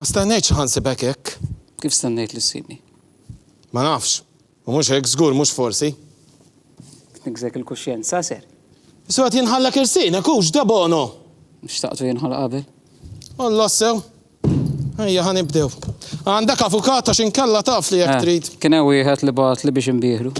Ma stennejtx li ħansibek hekk. Kif stennejt li ssibni? Ma nafx. U mhux hekk, żgur mhux forsi. Tniggżek il-kuxjenza, ser. Issu qed jinħallek irsienek, hu x'da bono! Xtaqtu jinħalla qabel. Alla sew. Ejja ħa nibdew. Għandek avukat għax inkella taf li jekk trid. Kien hemm wieħed li bagħatli biex inbieħlu.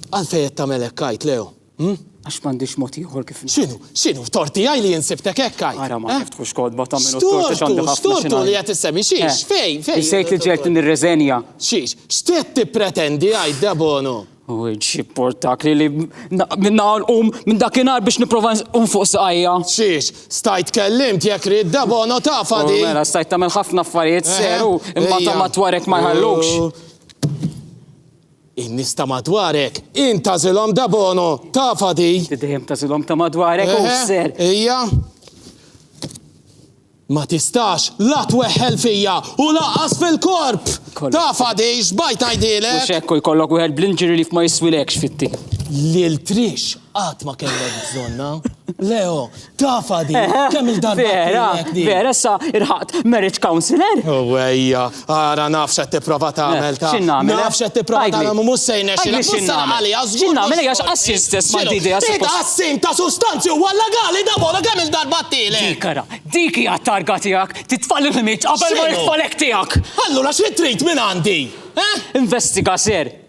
Għalfejn qed tagħmel hekk għid, Leo? Għax m'għandix mod ieħor kif. X'inhu? X'inhu? Tort tiegħi li jien sibtek hekk għid? Ara ma tiftħux kotba tagħmilu t-tort għax għandi ħafna xi ngħid. X'tortu li qed issemmi? Xiex? Fejn? Fejn? Insejt li ġejt li nirreżenja. Xiex? X'qed tippretendi għid Debono? U xi portak li li minna nqum minn dakinhar biex nipprova nqum fuq saqajja. Xiex? Stajt kellimt jekk rid Debono tafa di. Mela stajt tagħmel ħafna affarijiet seru imma ta' matwarek ma jħallukx. In-nies ta' madwarek, int tagħżilhom da bono, tafha di? Inti dejjem tagħżilhom ta' madwarek, hu s-sehr. Eħe, hija. Ma tistax la tweħħel fija u lanqas fil-korp! Tafha di, xbajt ngħidilek? Mhux hekk u jkollok wieħed bl-injury leave ma jiswilekx fit-tim. Lil Trish Qatt ma kellek bżonna. Leo, tafa di, kemm il-darba. Vera, vera, sa irħaqt marriage counselor. Uwejja, oh, ara nafx qed tipprova tagħmel ta' x'innagħmel. Nafx qed tipprova tagħmel mhux se jnexxilek. X'innagħmel? X'innagħmel għax qassin stess ma' didi għas. Dik qassin ta' sustanzi huwa legali da bola kemm il-darba tiele. Dik ara, dik hija targa tiegħek, titfall il-ħmiġ qabel ma jitfalek tiegħek. Allura xi trid minn għandi? Eh? Investiga ser,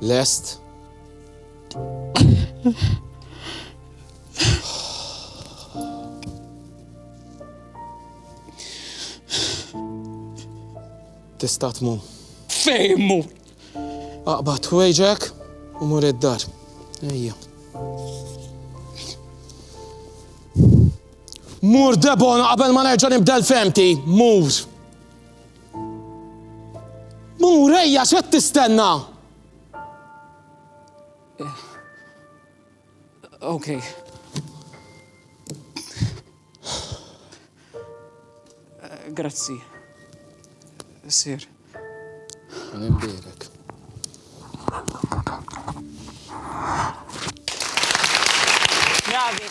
Lest? Tista' tmur. Fejn mur? Aqbad wejġek u mur id-dar. Ejja. Mur debon qabel ma nerġa' nibdel femti. Mur. Murejja x'qed tistenna? Okay. Grazzi. Sir. Għanimdirek. Bravi.